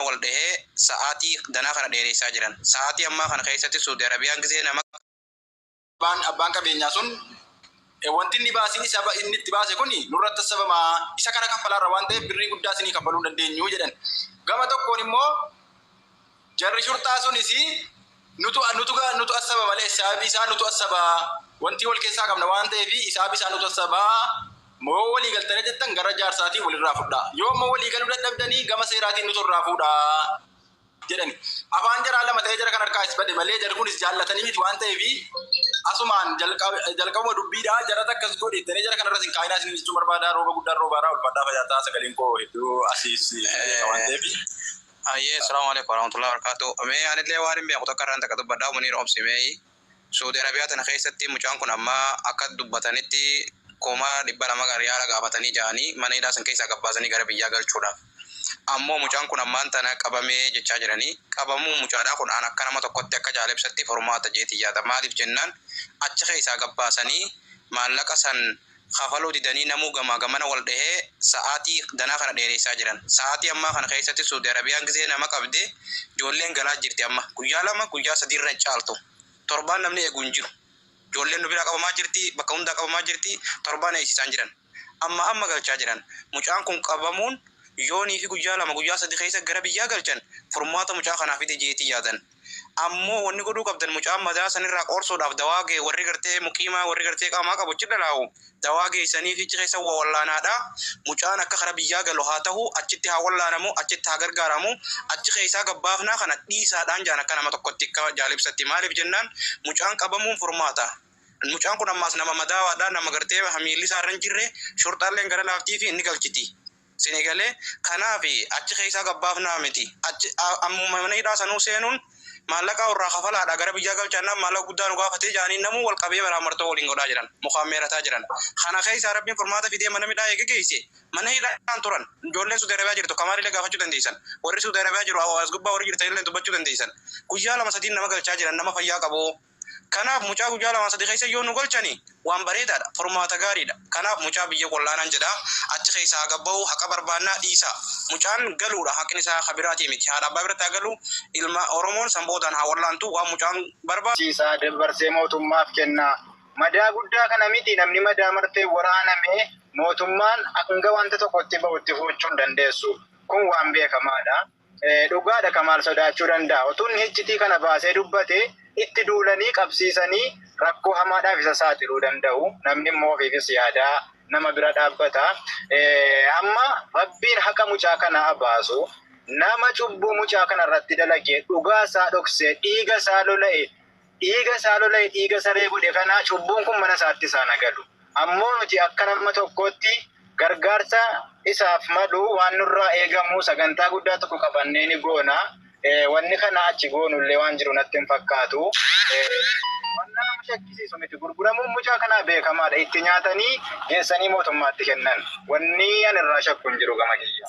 Arabaa wal dhahee sa'aatii danaa kana dheereessaa jiran. Sa'aatii ammaa kana keessatti Suudi Arabiyaan gizee nama. Abbaan abbaan qabeenyaa sun wanti inni baasiin isa inni itti baase kun nurratti hassabama isa kana kaffalaarra waan ta'eef birrii guddaa isinii kaffaluu hin dandeenyu jedhan. Gama tokkoon immoo jarri shurxaa sunis Nutu nutu ga nutu assaba malee hisaabi isaa nutu assaba wantii wal keessaa qabna waan ta'eef hisaabi isaa nutu assaba moo walii galtanii jettan gara jaarsaatiin walirraa fudhaa yoo ammoo walii galuu dadhabdanii gama seeraatiin nutu irraa fuudhaa jedhani afaan jaraa lama ta'ee jara kan harkaa is bade malee jarri kunis jaallatanii miti waan ta'eef asumaan jalqabuma dubbiidhaa jara takkas godhe ittanii jara kanarras hin kaa'inaa isin jechuu barbaadaa rooba guddaan roobaaraa ulfaadhaa fayaataa sagaleen koo hedduu asiis waan ta'eef Hayyee Assalaamu Aleeykum Warahmatullahi Wabarakaatuh Mee anillee waanin beeku takka irraan takka dubbadhaa Muniir obsi mee Suudi Arabiyaa tana keessatti mucaan kun amma akka dubbatanitti kuma dhibba lama riyaala gaafatanii ja'anii mana hidhaa san keessaa gabbaasanii gara biyyaa galchuudhaaf ammoo mucaan kun ammaan tana qabamee jechaa jiranii qabamuun mucaadhaa kun an akka nama tokkotti akka jaalebsatti furmaata jeetiin yaada maaliif jennaan achi keessaa gabbaasanii maallaqa san kafaluu didanii namuu gamaa gamana wal dhahee sa'aatii danaa kana dheereessaa jiran. Sa'aatii ammaa kana keessatti Suudi Arabiyaan gizee nama qabde ijoolleen galaa jirti amma. Guyyaa lama guyyaa sadii irra hin caaltu. Torbaan namni eegu hin jiru. Ijoolleen nu biraa qabamaa jirti, bakka hundaa qabamaa jirti, torbaan eegsiisaan jiran. Ammaa amma galchaa jiran. Mucaan kun qabamuun yoonii fi guyyaa lama guyyaa sadii keessa gara biyyaa galchan furmaata mucaa kanaa fida jeetii yaadan. Ammo wonni god'uu qabdani mucaa madaa sani iraa qoorsuud'aaf dawaa gee worri gartee muqiimaa worri gartee qaamaa qabu achi d'alaawu dawaa geesaniifi achi keesa wo wollaanaad'a. Mucaan aka kara biyyaa galu haa tahu achitti haa wollaanamu achitti haa gargaaramu achi keesaa gabbaafnaa kana d'iisaad'aan jaan aka nama tokotti aka jaal ibsatti maalif jennaan mucaan qabamuun furmaata mucaan kun ammaas nama madaawaad'a nama gartee miilli isaa irra hin jirre shurxaalleen gara laaftiifi inni galchiti Sini galee kanafi achi keessaa gad baafnaa miti achi ammuma mana hidhaa sanuu seenuun maallaqaa urraa kafalaadha gara biyyaa galchaannaan maallaqa guddaa nu gaafatee jaanii namuu wal qabee maraamartoo waliin godhaa jiran mukaan meerataa jiran kana keessaa rabbiin furmaata fidee mana midhaa eega geesse mana hidhaan turan ijoolleen suudi arabiyaa jirtu kamaalilee gaafachuu dandeessan warri suudi arabiyaa jiru as gubbaa warri jirtanillee dubbachuu dandeessan guyyaa lama sadiin nama galchaa jiran nama fayyaa qabu Kanaaf mucaa guyyaa lama sadi keessa yoo nu galchani waan bareedaadha, furmaata gaariidha. Kanaaf mucaa biyya qullaanan jedha achi keessaa haa gabbahu haqa barbaannaa dhiisaa. Mucaan galuudha haqni isaa ka biraatii miti. Haadha abbaa biratti haa galu ilma Oromoon san boodaan haa wallaantu waan mucaan barbaadu. Achi isaa dabbarsee mootummaaf kennaa. Madaa guddaa kana miti namni madaa martee waraaname mootummaan hanga wanta tokko itti bahu itti fuuchuu hin dandeessu. Kun waan beekamaadha. Dhugaadha Kamaal sodaachuu danda'a. Utuu inni hiccitii kana baasee dubbatee itti duulanii qabsiisanii rakkoo hamaadhaaf isa saaxiluu danda'u. Namni immoo ofiifis yaadaa nama bira dhaabbata. Amma Rabbiin haqa mucaa kana haa baasu. Nama cubbuu mucaa kana irratti dalagee dhugaa isaa dhoksee dhiiga isaa lola'e Dhiiga isaa lola'e dhiiga saree godhe kana cubbuun kun mana isaatti isaan haa galu. Ammoo nuti akka nama tokkootti gargaarsa isaaf malu waan nurraa eegamu sagantaa guddaa tokko qabannee ni goona. Wanni kanaa achi goonu illee waan jiru natti hin fakkaatu. Wanta nama shakkisiisu miti. Gurguramuun mucaa kanaa beekamaadha. Itti nyaatanii geessanii mootummaatti kennan. Wanni ani irraa shakku hin jiru gama kiyya.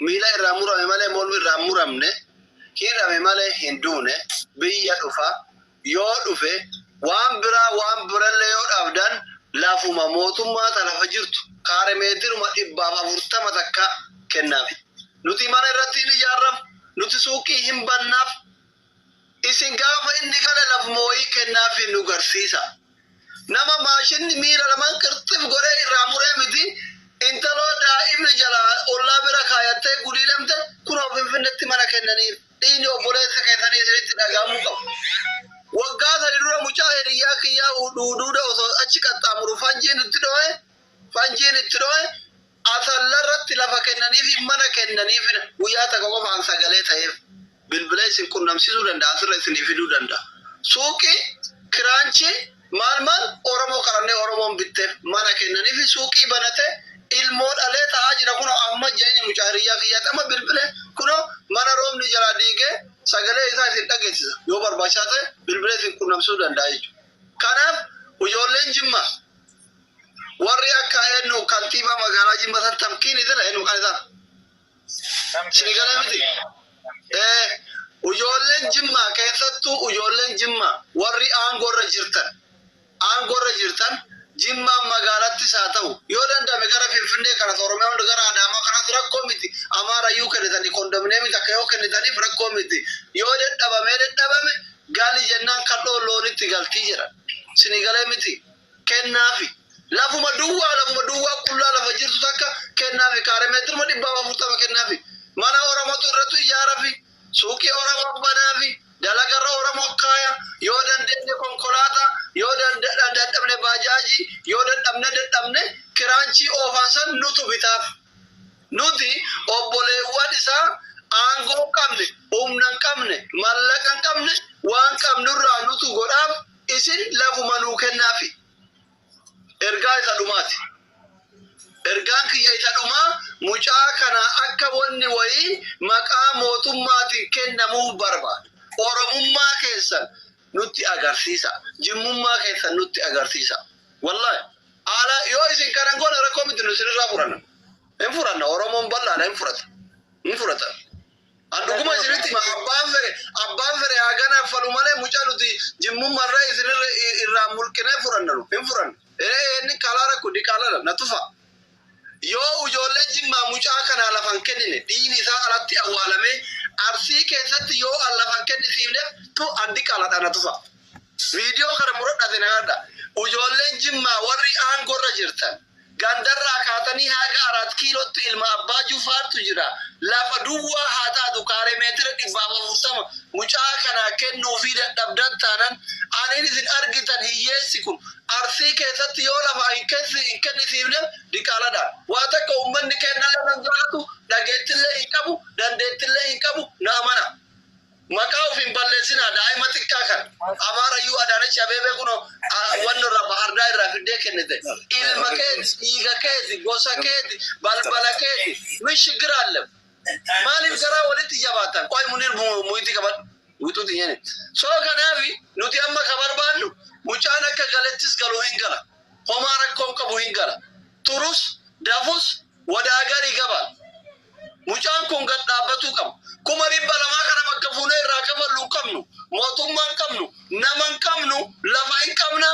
Miila irraa murame malee mormi irraa hin muramne, hidhame malee hin duune, biyya dhufa, yoo dhufe waan biraa waan birallee yoo dhabdan lafuma mootummaa ta lafa jirtu kaaremeetiruma dhibbaaf afurtama takka kennaaf. Nuti mana irratti hin ijaarraf, nuti suuqii hin bannaaf, Isin gaafa inni kana laf moo'ii kennaafi nu garsiisa. Nama maashinni miila laman qirxif godhee irraa muree miti, intaloo daa'imni jalaa ollaa bira kaayattee guliilamte kunoo Finfinnetti mana kennaniif. Dhiigni obboleessa keessanii isinitti dhaga'amuu qaba. Waggaa sadi dura mucaa hiriyyaa kiyyaa Huduuda osoo achi qaxxaamuru fanjiin itti dho'e, fanjiin itti dho'e, Asalla irratti lafa kennaniifi mana kennaniifina guyyaa takka qofa an sagalee ta'eef bilbila isin qunnamsiisuu danda'a asirra isinii fiduu danda'a. Suuqii, kiraanchii, maal maal Oromoo qarannee Oromoon bitteef mana kennaniifi suuqii banate ilmoo dhalee ta'aa jira kunoo amma jeenya mucaa hiriyyaa kiyyaatti amma bilbile kunoo mana roobni jalaa diigee sagalee isaa isin dhageessisa yoo barbaachisaa ta'e bilbila isin qunnamsiisuu danda'a jechuudha. Kanaaf ijoolleen Jimmaa Warri akka eenyu kantiibaa magaalaa Jimma san tamkiin idila eenyu kan isaa. Isin galee miti? Ee, ijoolleen Jimma keessattuu ijoolleen Jimma warri aangoo irra jirtan aangoo irra jirtan Jimmaan magaalattis haa ta'u yoo danda'ame gara Finfinnee kanas Oromiyaa hunda gara Adaamaa kanas rakkoo miti Amaarayyuu kennitanii kondominiyeemii takka yoo kennitaniif rakkoo miti yoo dadhabamee dadhabame gali jennaan kadhoo loonitti galtii jedhan. Isin galee miti? kennaafi. Lafuma duwwaa lafuma duwwaa qullaa lafa jirtu takka kennaafi kaare meetiruma dhibbaaf afurtama kennaafi. Mana Oromotu irratu ijaarafi, suuqii Oromoo banaafi, dalagarra Oromoo kaaya, yoo dandeenye konkolaata, yoo dadhabne baajaaji, yoo dadhabne dadhabne kiraanchii oofaan san nutu bitaaf. Nuti obboleewwan isaa aangoo hin qabne, humna hin qabne, mallaqa hin qabne waan qabnurraa nutu godhaaf. Isin lafuma nuu kennaafii. Ergaa isa dhumaati. Ergaan kiyya isa dhumaa mucaa kana akka wanni wayii maqaa mootummaatiin kennamuuf barbaada. Oromummaa keessan nutti agarsiisaa. Jimmummaa keessan nutti agarsiisaa. Wallahi haala yoo isin kana hin goone rakkoo miti nu isinirraa furanna. Hin furanna Oromoon bal'aadha hin furata. Hin furata. An dhuguma isinitti hima abbaan fere abbaan fere haa ganaaffalu malee mucaa nuti jimmummarra isin irra irraa mulqinee furannanu hin furanne. Ee inni kaalaa rakko diqaaladha na tufa. Yoo ujoollee jimmaa mucaa kanaa lafan kennine dhiini isaa alatti awwaalamee arsii keessatti yoo an lafan kennisiifneef tu an diqaaladha na tufa. Viidiyoo kana muradha isin agadha. Ujoolleen jimmaa warri aangorra jirtan. Gandarraa kaatanii haga Araat Kiilootti ilma Abbaa Jufaartu jira. Lafa duwwaa haa taatu kaaree meetira 140 mucaa kanaa kennuufii dadhabdan taanan aniin isin argitan hiyyeessi kun Arsii keessatti yoo lafaa hin kennisiifneef diqaaladha. Waa takka ummanni keennallee nan jaalatu, dhageettillee hin qabu, dandeettillee hin qabu, na amanaa. Maqaa of hin balleessinaa daa'ima xiqqaa kan Amaara iyyuu Adaanach Abeebee kun wanni irraa bahardaa irraa fiddee kennite ilma keeti dhiiga keeti gosa keeti balbala keeti min shiggira allem maaliif garaa walitti jabaatan qoy munir muyitti qabadhu wixuti nyene soo kanaafi nuti amma ka barbaannu mucaan akka galettis galu hin gala homaa rakkoon qabu hin gala turus dafus Wadaa gari gaba. Mucaan kun gad dhaabbatuu qaba. Kuma dhibba lamaa kana bakka fuunee irraa kafallu hin qabnu. Mootummaa hin qabnu. Nama hin qabnu. Lafa hin qabna.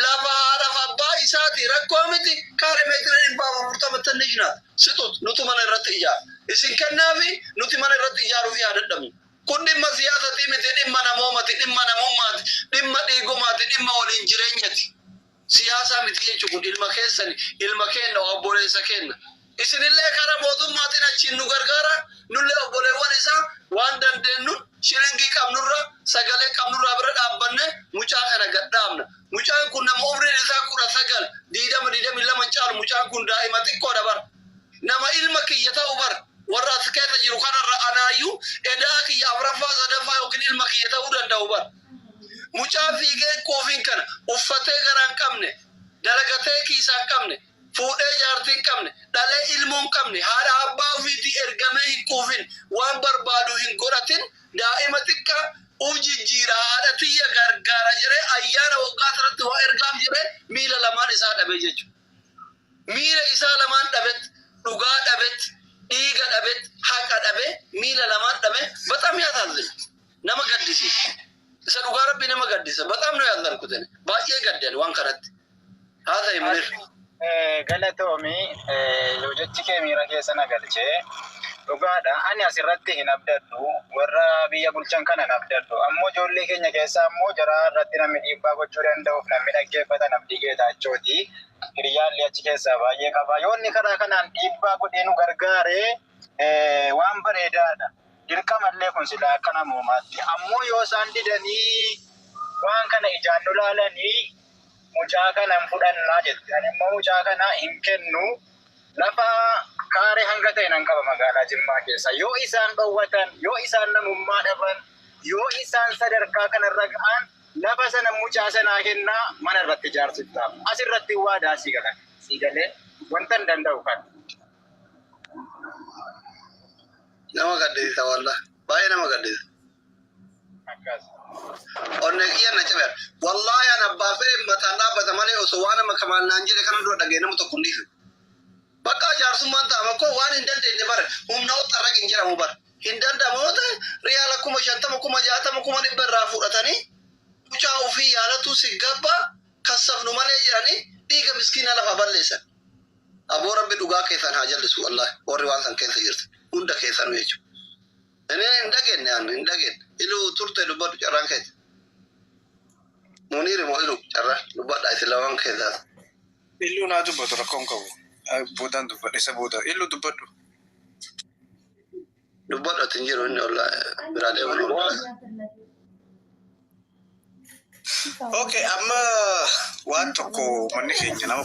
Lafa haadhaaf abbaa isaati. Rakkoo miti. Kaare meetira dhibbaaf afurtama tannish naat. Sixut. Nutu mana irratti ijaara. Isin kennaafi nuti mana irratti ijaaruufi haa dadhabnu. Kun dhimma siyaasatii miti. Dhimma namoomati. Dhimma namummaati. Dhimma dhiigumaati. Dhimma waliin jireenyati. Siyaasaa miti jechu kun ilma keessani ilma keenna oabboleessa keenna isinillee kara mootummaatin achiin nu gargaara nullee obboleewwan isaa waan dandeennun shilingii qabnurra sagalee qabnurraa bira dhaabbanne mucaa kana gad dhaabna mucaan kun nama umriin isaa 19 20 22 hin caalu mucaan kun daa'ima xiqqoodha bar nama ilma kiyya ta'u bar warra as keessa jiru kanarra anaayyuu edaa kiyya afraffaa sadaffaa yookiin ilma kiyya ta'uu danda'u bar Mucaa fiigeen quufiin kana uffatee garaa hin qabne, dalagatee kiisaa hin qabne, fuudhee jaartii hin qabne, dhalee ilmoo hin qabne, haadha abbaa ofiitii ergamee hin quufin, waan barbaadu hin godhatin, daa'ima xiqqaa uf jijjiira, haadha tiyya gargaara jedhee ayyaana waggaa tanatti waa ergaaf jedhee miila lamaan isaa dhabee jechuudha. Miila isaa lamaan dhabet, dhugaa dhabet, dhiiga dhabet, haqa dhabe, miila lamaan dhabe, baxam yaasaazzina. nama gaddisiisa isa dhugaa rabbi nama gaddisa baxaam nu yaadnan kutene baay'ee gaddan waan kanatti haa ta'e munir galatoomi yoo jechi kee miira keessa na galchee dhugaadha ani asirratti hin abdadhu warra biyya bulchan kana hin abdadhu ammoo ijoollee keenya keessaa ammoo jaraa irratti namni dhiibbaa gochuu danda'uuf namni dhaggeeffatan abdii geetaachooti hiriyyaallee achi keessaa baay'ee qaba yoonni karaa kanaan dhiibbaa godhee nu gargaaree waan bareedaadha. Dirqama illee kun silaa akka namoomaatti. Ammoo yoo isaan didanii waan kana ijaan nu laalanii mucaa kana hin fudhannaa jette. Ani immoo mucaa kana hin kennu. Lafa kaaree hanga ta'e nan qaba magaalaa Jimmaa keessa. Yoo isaan dhowwatan, yoo isaan namummaa dhaban, yoo isaan sadarkaa kanarra ga'an lafa sana mucaa sanaa kennaa mana irratti ijaarsiftaaf. As irratti waadaa sii galan. Sii galee wantan danda'u kana. Nama gaddisiisa wallah. Baay'ee nama gaddisiisa. Akkas. Onnee kiyya na cabe. Wallahi an abbaa fedhe mataan dhaabbata malee osoo waan amma kamaal naan jedhe kana dura dhaga'e nama tokko hin dhiisu. Bakka jaarsummaan taa'ama koo waan hin dandeenye bara humna ol xarraq hin jedhamu bara. Hin danda'amu yoo ta'e riyaala kuma shantama kuma jaatama kuma dhibba irraa fudhatanii mucaa ofii yaalatuu si gabba kassafnu malee jedhanii dhiiga miskiinaa lafaa balleessan. Aboo rabbi dhugaa keessaan haa jallisuu wallahi warri waan san keessa jirtan hunda keessanuu jechu ini hin dhageenne an hin dhageenne iluu turte dubbadhu carraan keessa muniiri moo iluu carraan dubbadha isin lamaan keessaa Illu naa dubbatu rakkoon qabu. Ah, Boodaan dubbadhe isa booda. Illu dubbadhu. dubbadhu ati hin jiru inni olla biraa deeman olla Okay, amma waan tokko manni keenya nama